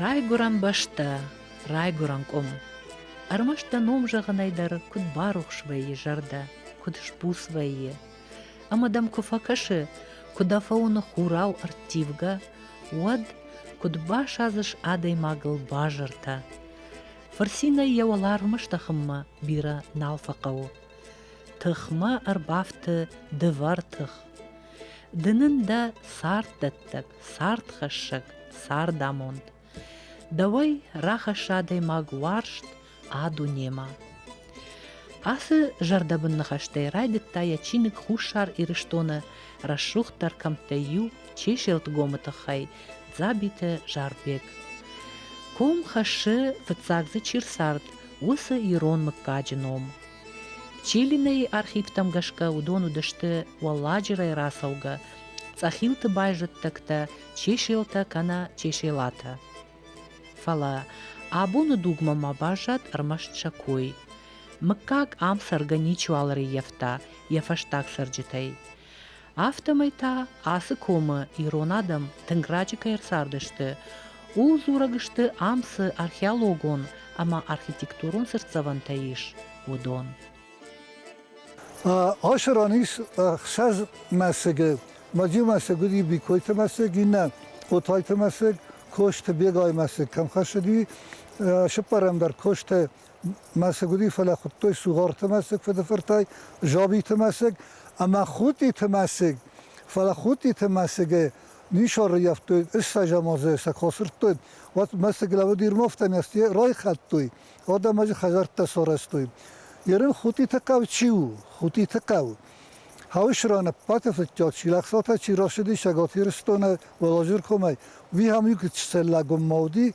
Райгуырӕн бӕстӕ, райгуырӕн къуым. Ӕрмӕст дӕ ном зӕгъынӕй дӕр куыд барухс вӕййы зӕрдӕ, куыд сбуц вӕййы. Ӕмӕ дӕм куы фӕкӕсы, куы дӕ фӕуыны хурау ӕрттивгӕ, уӕд куыд басадзыс адӕймагыл базыртӕ. Фырцинӕй йӕ уӕларвмӕ стӕхынмӕ бирӕ нал фӕхъӕуы. Тыхмӕ ӕрбафты дывӕр тых. Ды нын дӕ царддӕттӕг, цардхӕссӕг, цардамонд. Дӕуӕй рахӕсса адӕймаг уарзт а дунемӕ. Ацы зӕрдӕбын ныхӕстӕй райдыдта йӕ чиныг Хуссар Ирыстоны рӕсугъддӕр кӕмттӕй иу Чеселтгомы тыххӕй Дзабиты Зарбег. Ком хӕссы фыццаг дзы чи рцард, уыцы ирон мыггаджы ном. Чилинейы архивтӕм гӕсгӕ уыдон уыдысты уӕлладжырӕй рацӕугӕ цъӕхилты байзӕддӕгтӕ чеселтӕ кӕнӕ чеселатӕ. Фӕлӕ абоны дугмӕ ма баззад ӕрмӕст сӕ кой. Мыггаг ам цӕргӕ ничиуал ӕрӕййӕфта йӕ фӕстаг цӕрджытӕй. Афтӕмӕй та ацы комы ирон адӕм тынг раджы кӕй ӕрцардысты, ууыл дзурӕг сты ам цы археологон ӕмӕ архитектурон цыртдзӕвӕнтӕ ис, уыдон. Ашы ран ис ӕхсӕз мӕсыгы. Мадзи мӕсыг уыди Бикойты мӕсыг, иннӕ Отайты мӕсыг, Косты Бегайы мӕсыг кӕм хӕссыди, сыппӕрӕм дӕр Косты мӕсыгуыри, фӕлӕ хуыдтой Сугъарты мӕсыг фыдыфыртӕй, Жабиты мӕсыг ӕмӕ Хутъиты мӕсыг. Фӕлӕ Хутъиты мӕсыгы нисарӕййӕфтой, ссӕзӕмазӕй сӕ куы асырдтой, уӕд мӕсыг лӕуд Ермовтӕм райхӕлдтой, адӕмаджы хӕдзӕрттӕ сарӕзтой. Ерын Хутъиты хъӕу чи у? Хутъиты хъӕу. Хауысраны Ппаты фыдтӕ Чилӕхсатӕ чи рашыди Цӕгат Ирыстоны Уӕлазӕр комӕй, уый ам иу чселлагон ма уыди,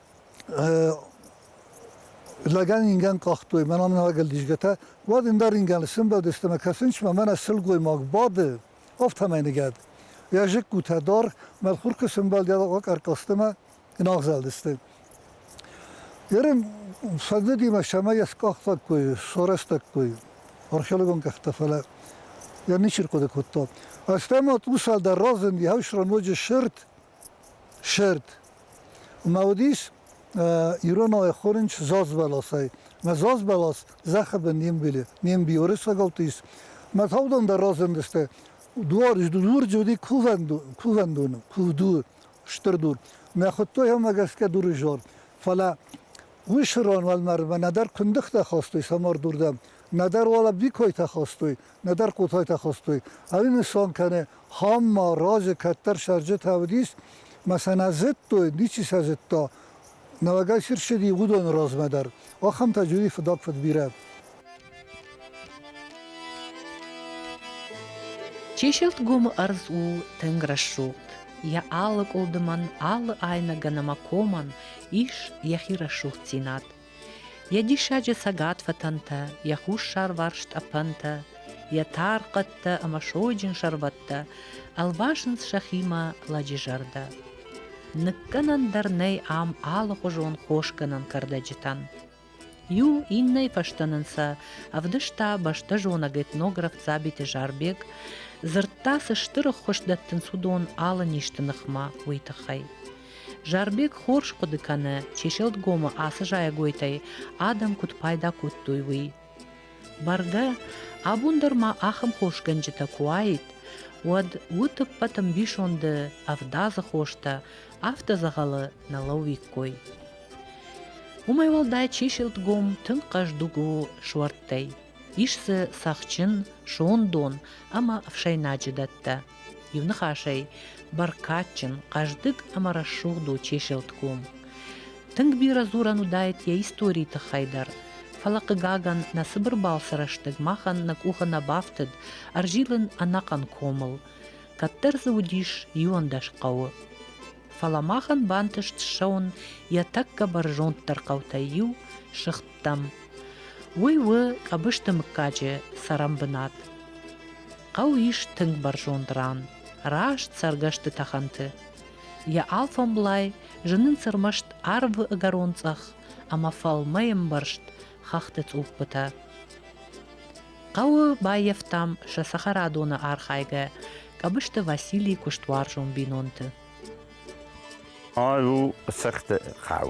Лӕгӕн ингӕн къахтой, мӕн аминӕгӕл дисгӕтӕ, уӕд ин дӕр ингӕн лсӕнбӕлдыстӕ мӕ кӕсунсмӕ мӕнӕ силгоймаг бады, афтӕмӕй ныгӕд. Йӕ зыккутӕ дӕр мӕлхуркы сӕмбӕлдӕуӕг ӕркъӕрцътӕмӕ ӕнагъзӕлдысты. Ерын фӕндыдимӕ сӕмӕ йӕ скъахтӕккой, сорӕстӕккой археологон къӕхтӕ, фӕлӕ йӕ ничи рхъуыды кодта. Фӕстӕмӕ тъусал дӕр разынд, йӕ ус ноджы сырд, Сӕрд. Ма уыдис иронау ӕххорынч зазбӕласӕй. Мӕ зазбӕлас зӕххыбын не мбилы, не мбиоры сагӕлты ис. Мӕ таудон дӕр разындысты. Дуар, дур джы уыди кувӕндоны, кувдур, стыр дур. Мӕ хуыдтой ӕмӕ гӕсгӕ дуры зор. Фӕлӕ уый сырон уӕлмӕрдмӕ нӕдӕр куындыхтӕ хастой самардурдӕм, нӕдӕр уал ӕббикойтӕ хастой, нӕдӕр кутойтӕ хостой. Ӕримисон кӕне, хам ма рази кӕддӕр сӕрджытӕ уыдис, ма сӕ нӕ зыдтой, ничи сӕ зыдта. Нӕуӕгӕй сирсыди уыдоны размӕ дӕр. Ахӕмтӕ джуди фыдаг фыд бирӕ. Чеселтгомы ӕрдз у тынг рӕсугъд. Йӕ алы къуылдымӕн, алы айнӕгӕн ӕмӕ комӕн ис йӕхи рӕсугъддзинад. Йӕ диссаджы цӕгатфӕтӕнтӕ, йӕ хуссарварс тъӕпӕнтӕ, йӕ тар хъӕдтӕ ӕмӕ сойджын сӕрвӕттӕ ӕлвасынц сӕхимӕ лӕджы зӕрдӕ. Ныккӕнӕн дӕр нӕй ам алыхуызон хосгӕнӕн кӕрдӕджытӕн. Иу иннӕйы фӕстӕ нын сӕ ӕвдыста бӕстӕзонӕг этнограф Дзабиты Зарбег, дзырдта, цы стыр ӕххуыс дӕттынц уыдон алы низты ныхмӕ, уый тыххӕй. Зарбег хорз хъуыды кӕны, Чеселтгомы ацы зайӕгойтӕй адӕм куыд пайда кодтой, уый. Бӕргӕ, абон дӕр ма ахӕм хосгӕнджытӕ куы уаид, уӕд уыд ӕппӕт ӕмбисонды ӕвдадзы хостӕ, афтӕ дзӕгъӕлы нӕ лӕууиккой. Уымӕй уӕлдай чеселтгом тынг хъӕздыг у суӕрттӕй. Ис дзы цӕхджын, сондон ӕмӕ ӕфсӕйнаджы дӕттӕ. Иуныхасӕй, бӕркадджын, хъӕздыг ӕмӕ рӕсугъд у Чеселтком. Тынг бирӕ дзурӕн уыдаид йӕ историйы тыххӕй дӕр, фӕлӕ, хъыгагӕн, нӕ цыбыр балцы рӕстӕг махӕн нӕ къухы нӕ бафтыд ӕрзилын ӕнӕхъӕн комыл, кӕддӕр дзы уыдис иуӕндӕс хъӕуы. Фӕлӕ махӕн бантыст ссӕуын йӕ тӕккӕ бӕрзонддӕр хъӕутӕй иу, Сыгъд хъуыддӕгтӕм. Уый у Къӕбысты мыггаджы цӕрӕнбынат. Хъӕу ис тынг бӕрзонд ран, раст цӕргӕсты тӕхӕнты. Йӕ алфӕмблай зынынц ӕрмӕст арвы ӕгӕрон цъӕх ӕмӕ фӕлмӕй ӕмбӕрзт хӕхты цъуппытӕ. Хъӕуы баййӕфтам сӕ цӕхӕрадоны архайгӕ Къӕбысты Василий куыстуарзон бинонты. Арв у цӕхты хъӕу.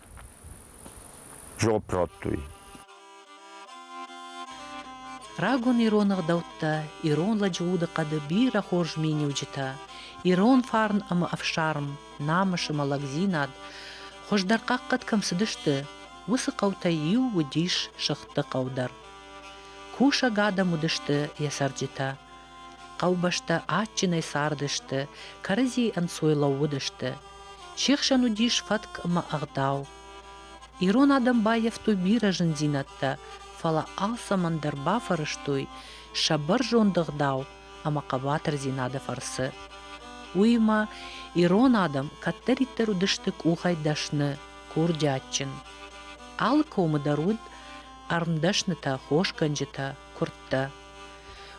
Жоп радтой. Рагон ирон ӕгъдӕуттӕ, ирон лӕджы удыхъӕды бирӕ хорз миниуджытӕ, ирон фарн ӕмӕ ӕфсарм, намыс ӕмӕ лӕгдзинад хуыздӕр хъахъхъӕд кӕм цыдысты, уыцы хъӕутӕй иу уыдис Сыхты хъӕу дӕр. Кусӕг адӕм уыдысты йӕ цӕрджытӕ, Хъӕубӕстӕ адджынӕй цардысты, кӕрӕдзийы ӕнцой лӕууыдысты. Се хсӕн уыдис фӕтк ӕмӕ ӕгъдау. Ирон адӕм баййӕфтой бирӕ зындзинӕдтӕ, фӕлӕ алцӕмӕн дӕр бафӕрӕзтой сӕ бӕрзонд ӕгъдау ӕмӕ хъӕбатырдзинады фӕрцы. Уыимӕ ирон адӕм кӕддӕриддӕр уыдысты къухӕй дӕсны, курдиатджын. Алы комы дӕр уыд ӕрмдӕснытӕ, хосгӕнджытӕ, куырдтӕ.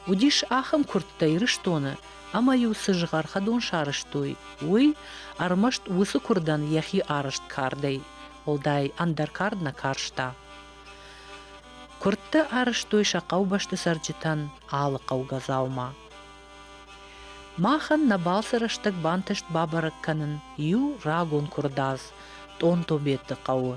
Уыдис ахӕм куырдтӕ Ирыстоны, ӕмӕ-иу цы згъӕр хӕдон сарӕзтой, уый ӕрмӕст уыцы куырдӕн йӕхи арӕзт кардӕй, уӕлдай ӕндӕр кард нӕ карста. Куырдты арӕзтой сӕ хъӕубӕсты цӕрджытӕн алы хъӕугӕ дзаума. Махӕн нӕ балцы рӕстӕг бантыст бабӕрӕг кӕнын иу рагон куырдадз Тъонтобеты хъӕуы.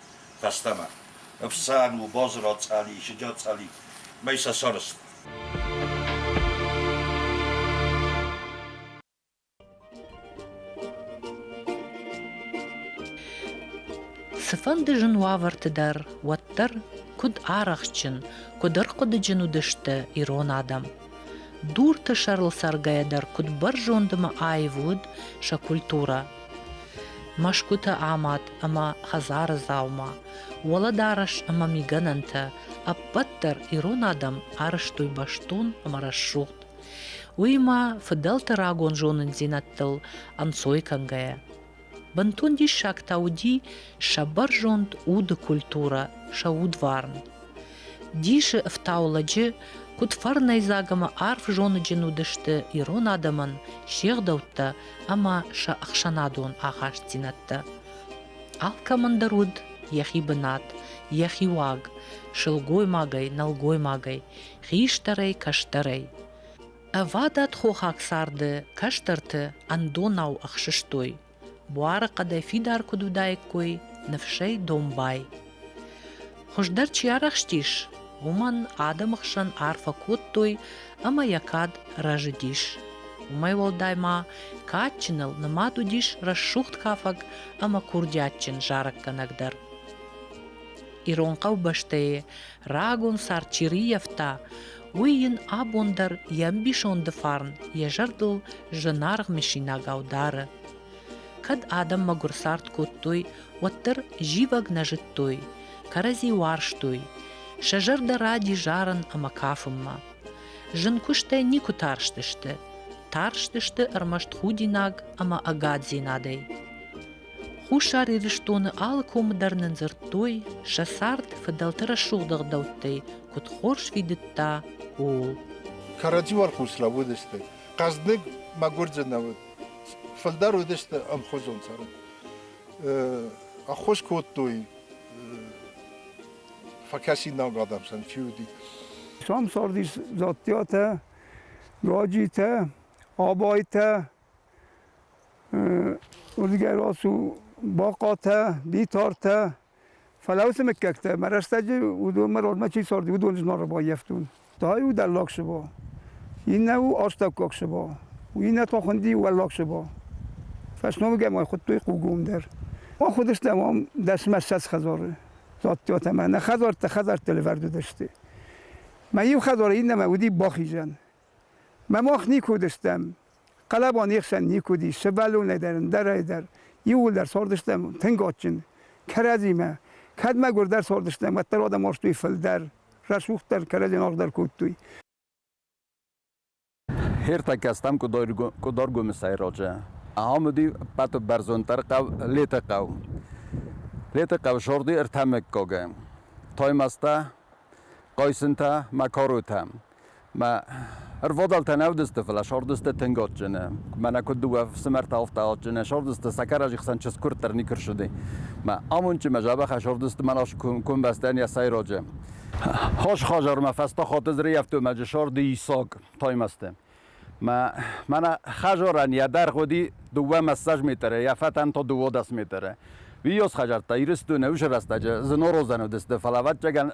Фӕстӕмӕ ӕфсӕн у Бозро цъӕли, Сыджӕт цъӕли мӕй сӕ сӕрст. Цыфӕнды зын уавӕрты дӕр уӕддӕр куыд арӕхстджын, куыд ӕрхъуыдыджын уыдысты ирон адӕм. Дурты сӕрыл цӕргӕйӕ дӕр куыд бӕрзонд ӕмӕ аив уыд сӕ культурӕ. Мӕсгуытӕ амад ӕмӕ хӕдзары дзаума, уӕлӕдарӕс ӕмӕ мигӕнӕнтӕ ӕппӕт дӕр ирон адӕм арӕзтой бӕстон ӕмӕ рӕсугъд. Уыимӕ фыдӕлты рагон зонындзинӕдтыл ӕнцой кӕнгӕйӕ. Бынтон диссаг та уыди сӕ бӕрзонд уды культурӕ, сӕ удварн. Дисы ӕфтау лӕджы, куыд фӕрнӕйдзаг ӕмӕ арф зоныджын уыдысты ирон адӕмӕн се гъдӕуттӕ ӕмӕ сӕ ӕхсӕнадон ахастдзинӕдтӕ. Алкӕмӕн дӕр уыд йӕхи бынат, йӕхи уаг, сылгоймагӕй, нӕлгоймагӕй, хистӕрӕй, кӕстӕрӕй. Ӕвадат хохаг царды кӕстӕрты ӕндонау ӕхсыстой буары хъӕдӕй фидар куыд уыдаиккой ныфсӕй домбай. Хуыздӕр чи арӕхстис, уымӕн адӕмы хсӕн арфӕ кодтой ӕмӕ йӕ кад рӕзыдис. Уымӕй уӕлдай ма кадджыныл нымад уыдис рӕсугъд кафӕг ӕмӕ курдиатджын зарӕггӕнӕг дӕр. Ирон хъӕубӕстӕй рагон цард чи риййӕфта, уый йын абон дӕр йӕ ӕмбисонды фарн йӕ зӕрдыл зынаргъ мысинагау дары. Кӕд адӕм мӕгуыр цард кодтой, уӕддӕр зивӕг нӕ зыдтой, кӕрӕдзи уарзтой, сӕ зӕрдӕ ради зарын ӕмӕ кафынмӕ. Зын куыстӕй никуы тарстысты, тарстысты ӕрмӕст худинаг ӕмӕ ӕгаддзинадӕй. Хуссар Ирыстоны алы комы дӕр нын дзырдтой, сӕ цард фыдӕлты рӕсугъд ӕгъдӕуттӕй куыд хорз фидыдта, ууыл. Кӕрӕдзи уӕрхъус лӕууыдысты. Хъӕздыг, мӕгуырджын нӕ уыд. Фылдӕр уыдысты ӕмхуызон цард. Ӕххуыс кодтой фӕкӕсинаг адӕм сӕн чи уыди. Сам цардис Дзаттиатӕ, Гаджитӕ, Абайтӕ, Уырдыгӕй рацу бахъатӕ, битартӕ, фӕлӕ уыцы мыггӕгтӕ, мӕ рӕстӕджы уыдон мӕ родмӕ чи царди, уыдон зноры баййӕфтон. Та иу дӕллаг сыба, иннӕ у астӕуккаг сыба, иннӕ та хуынди уӕллаг сыба. Фӕсномыгӕй ма хуыдтой хъугом дӕр. Ахуыдыстӕм ам дӕсмӕссӕдз хӕдзары, зӕдтӕ ӕмӕ нӕ хӕдзӕрттӕ хӕдзӕртты лӕвӕрд уыдысты. Мӕ иу хӕдзары иннӕмӕ уыди бахизӕн. Мӕ мах никуы уыдыстӕм, хъӕлӕба не хсӕн никуы уыди, сывӕллонӕй дӕр, ӕндӕрӕй дӕр, иууылдӕр цардыстӕм тынг адджын. Кӕрӕдзимӕ кӕд мӕгуырдӕр цардыстӕм, уӕддӕр адӕм уарзтой фылдӕр, рӕсугъддӕр, кӕрӕдзи аргъдӕр кодтой. Хиртӕккӕ стӕм Къуыдаргомысӕй раджы. Ахӕм уыди ӕппӕты бӕрзонддӕр хъӕу Летыхъӕу. Летыхъӕу зӕрди ӕртӕ мыггагы: Таймӕзтӕ, Хъайсынтӕ, Макаротӕ. Мӕ ӕрвадӕлтӕ нӕ уыдысты, фӕлӕ сӕрдысты тынг адджыны. Мӕнӕ куыд дыууӕ фсымӕртӕ афтӕ адджыны, сӕрдысты сӕкӕрӕджы хсӕн чызг-куырд дӕр никуы рыссыди. Мӕ амондджын, мӕ дзӕбӕхӕй сӕрдысты Мӕнас комбастӕн йӕ сӕйраджы. Хӕс хӕдзармӕ фӕстӕ хатыдз рӕййӕфтой мӕ сӕрды Исак Таймӕзты. Мӕнӕ хажорӕн йӕ дӕр гъуди дууӕ массаж метрӕ, йӕ фӕтӕн то дыууодӕс метрӕ. Уи ёс хӕжартта Иристуне уж рӕстӕджы зынорозӕн уыдысты, фӕлӕ ӕвӕццӕгӕн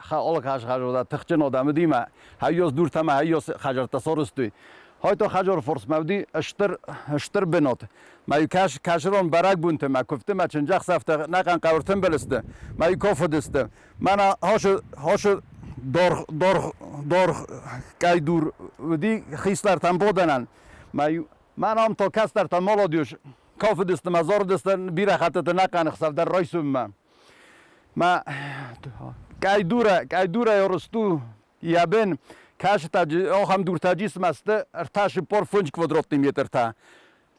хаол хӕзхӕзода тыхджын одамыдимӕ хаййос дуртӕмӕ хаййос хӕжартта сорыстой. Хойто хажор форсмӕ уыди стыр стыр бынот. Мӕ кӕс кӕсрон бӕрӕгбонты мӕ куывдты мӕ чындзӕхсӕвтӕ нӕхъӕн хъӕуы тымбыл сты. Мӕ ков уыдысты. Мӕнӕ ашы ашы дорх дорх дорх кайдур уыди хистӕртӕн бодӕнӕн. Мӕ иу мӕн ам то кӕстӕртӕ молодежь кафыдысты мӕ дзорыдысты бирӕ хӕттыты нӕхъӕн ӕхсӕвдӕр райсынмӕ. Мӕ кайдурӕ кайдурӕй ӕрысту ябен кӕсытӕ ахӕм дуртӕ джисмӕ сты ӕртӕ-сыппор фунт квадратный метртӕ.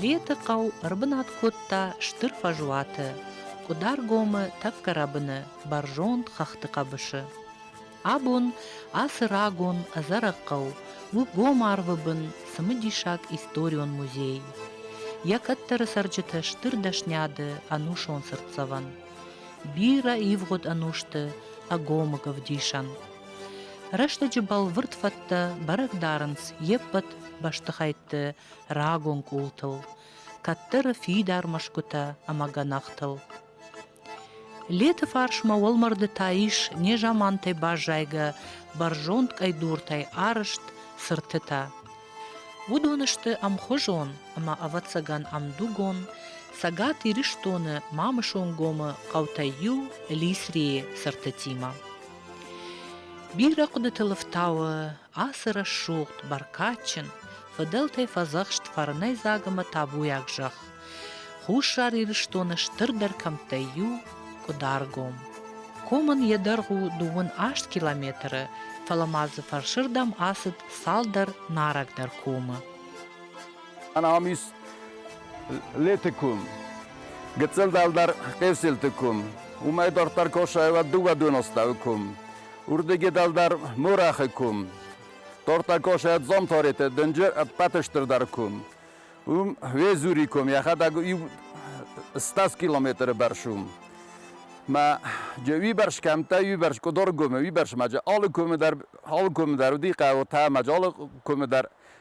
Леты хъӕу ӕрбынат кодта стыр фӕзуаты, Къуыдаргомы тӕккӕ рӕбыны бӕрзонд хӕхты хъӕбысы. Абон ацы рагон ӕдзӕрӕг хъӕу у гом арвы бын цымыдисаг историон музей. Йӕ кӕддӕры цӕрджыты стыр дӕсниады ӕнусон цыртдзӕвӕн. Бирӕ ивгъуыд ӕнусты ӕгомыг ӕвдисӕн. Рӕстӕджы бӕлвырд фӕдтӕ бӕрӕг дарынц йе ппӕт бӕстыхӕйтты рагон къултыл, кӕддӕры фидар мӕсгуытӕ ӕмӕ гӕнахтыл. Леты фарсмӕ уӕлмӕрды та ис незамантӕй баззайгӕ бӕрзонд къӕйдуртӕй арызт цыртытӕ. Уыдон сты ӕмхуызон ӕмӕ ӕвӕццӕгӕн ӕмдугон Цӕгат Ирыстоны Мамысонгомы хъӕутӕй иу Лисрийы цыртытимӕ. Бирӕ хъуыдытыл ӕфтауы ацы рӕсугъд, бӕркадджын, фыдӕлтӕй фӕдзӕхст фӕрнӕйдзаг ӕмӕ табуйаг зӕхх, Хуссар Ирыстоны стырдӕр кӕмттӕй иу, Къуыдаргом. Комӕн йӕ дӕргъ у дыууын аст километры, фӕлӕ ма дзы фӕрсырдӕм ацыд цалдӕр нарӕгдӕр комы. Ӕнамис леты кум, гыццыл дӕлдӕр хъесилты кум, уымӕй дарддӕр косайват дыууӕдуноставы кум, урдыги дӕлдӕр морахы кум, тортӕ косайат зомтореты дынджы ӕппӕты стырдӕр кум. Уым Везури кум йӕхӕдӕг иу 100 километры бӕрц у. Мӕ уибӕрс кӕмттӕ, уибӕрс къуыдор кумы, уибӕрс ма алы кумы дӕр, алы кумы дӕр уыди хъӕуы та мӕ залы кумы дӕр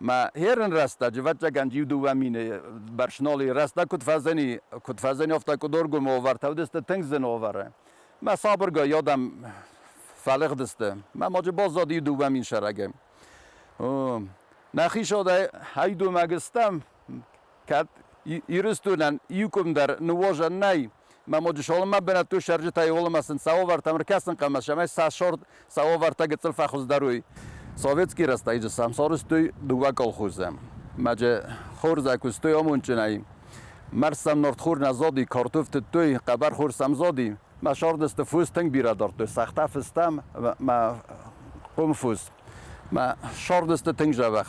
Мӕ херӕн рӕстӕджы вӕтчъагӕн иу-дыууӕ мины бӕрц ноли рӕстӕг куыд фӕззӕни, куыд фӕззӕниуфтӕ къуыдоргомы овартӕ уыдысты тынг зын овары. Мӕ сабыргай адӕм фӕлыгъдысты. Мӕ ноджы баззад иу-дыууӕ мин сӕрагӕй. Мӕхи сӕдӕй ӕй домӕг стӕм, кӕд Ирыстонӕн иукуымдӕр ныуозӕн нӕй, мӕ Модисолымӕ бынӕттон цӕрджытӕй уылымӕ сын сӕ уавӕртӕм ӕркӕсын хъӕмӕ, цӕмӕй сӕ сорт, сӕ уавӕртӕ гыццыл фӕхуыздӕр уой. Советский рӕстӕджы сӕм сорстой дыууӕ колхозы. Маджы хорзӕй куыстой амондджынӕй. Мӕрс сӕм нартхор нӕ зоди, картоф тыдтой, хъӕбӕрхор сӕм зоди. Мӕ сӕрдысты фос тынг бирӕ дардтой, цагъта фыстам мӕ къуымфос. Мӕ сӕрдысты тынг зӕвӕх.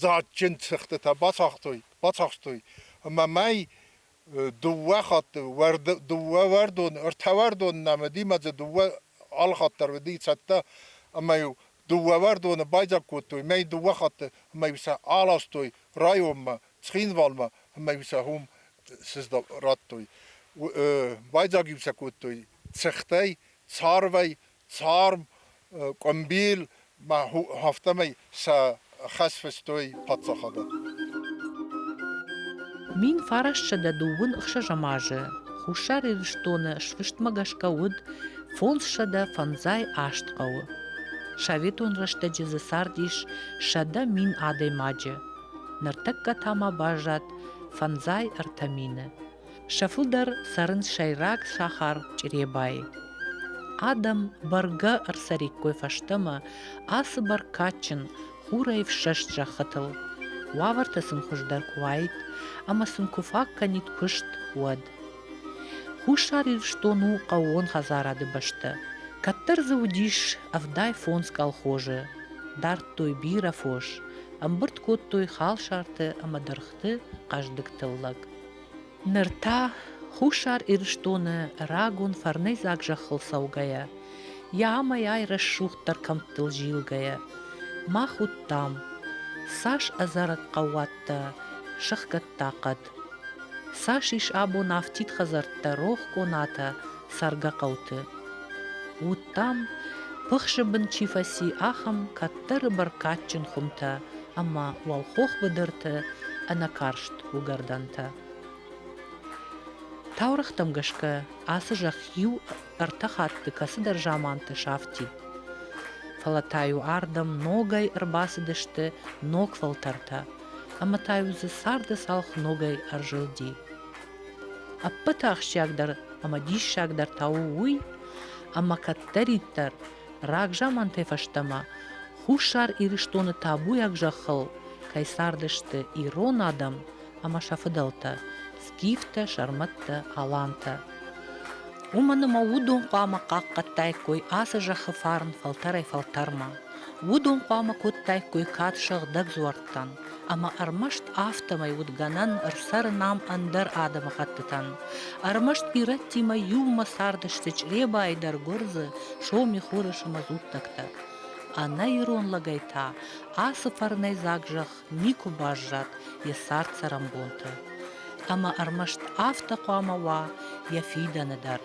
дзаджджын цӕхтытӕ бацахстой ӕмӕ мӕй дыууӕ хатты дыууӕуӕрдон, ӕртӕуӕрдон нӕ мыдимӕдзы дыууӕ алхатт дӕр уыди цӕттӕ ӕмӕ-иу дыууӕуӕрдоны байдзаг кодтой мӕй дыууӕ хатты ӕмӕ-иу сӕ аластой районмӕ, Цхинвалмӕ ӕмӕ-иу сӕ уым радтой. Байдзаг-иу сӕ кодтой цӕхтӕй, царвӕй, Царм, къуымбил ма афтӕмӕй сӕ хӕс фыстой паддзахададмӕ. Мин фарасtsӕдӕ дыууын ӕхсӕзӕм азы Хуссар Ирыстоны сфыстмӕ гӕсгӕ уыд фондзсӕдӕ фӕндзай аст хъӕуы. Советон рӕстӕджы дзы цардис сӕдӕ мин адӕймаджы, ныртӕккӕ та ма баззад фӕндзай ӕртӕ мины. Сӕ фылдӕр цӕрынц сӕйраг сахар Чъребайы. Адӕм бӕргӕ ӕрцӕриккой фӕстӕмӕ ацы бӕркадджын хурӕй ӕфсӕст зӕххытыл. Уавӕртӕ сын хуыздӕр куы уаид ӕмӕ сын куы фаг кӕнид куыст, уӕд. Хуссар Ирыстон у хъӕууон хӕдзарады бӕстӕ. Кӕддӕр дзы уыдис ӕвдай фондз колхозы. Дардтой бирӕ фос, ӕмбырд кодтой халсарты ӕмӕ дыргъты хъӕздыг тыллӕг. Ныр та, Хуссар Ирыстоны рагон фӕрнӕйдзаг зӕххыл цӕугӕйӕ, йӕ амӕй-ай рӕсугъддӕр кӕмттыл зилгӕйӕ, мах уыдтам, цас ӕдзӕрӕг хъӕууӕттӕ сыхгӕдта хъӕд, цас ис абон афтид хӕдзӕрттӕ рох конатӕ цӕргӕ хъӕуты. Уыдтам, пыхсы бын чи фӕци, ахӕм кӕддӕры бӕркадджын хуымтӕ ӕма уӕлхох быдырты ӕнӕкарст уыгӕрдӕнтӕ. Таурӕгътӕм гӕсгӕ ацы зӕхх иу ӕртӕ хатты кӕцыдӕр заманты сафти. Фӕлӕ та-иу ардӕм ногӕй ӕрбацыдысты ног фӕлтӕртӕ, ӕмӕ та-иу дзы царды цалх ногӕй ӕрзылди. Ӕппӕты ахсджиагдӕр ӕмӕ диссагдӕр та у уый, ӕмӕ кӕддӕриддӕр Рагзамантӕ фӕстӕмӕ Хуссар Ирыстоны табуйаг зӕххыл кӕй цардысты ирон адӕм ӕмӕ сӕ фыдӕлтӕ Скифтӕ, сӕрмӕттӕ, алантӕ. Уымӕн ӕмӕ уыдон хъуамӕ хъахъхъӕдтаиккой ацы зӕххы фарн фӕлтӕрӕй-фӕлтӕрмӕ. Уыдон хъуамӕ кодтаиккой кад сыгъдӕг дзуӕрттӕн. ӕмӕ ӕрмӕст афтӕмӕй уыд гӕнӕн ӕрцӕрын ам ӕндӕр адӕмыхӕттытӕн. Ӕрмӕст ирӕттимӕ иумӕ цардысты чъребайы дӕр гуырдзы, соми, хурысы мӕ дзуттӕгтӕ. Ӕнӕ ирон лӕгӕй та ацы фӕрнӕйдзаг зӕхх никуы баззад йӕ цард-цӕрӕнбонты. Ӕмӕ ӕрмӕст афтӕ хъуамӕ уа йӕ фидӕны дӕр.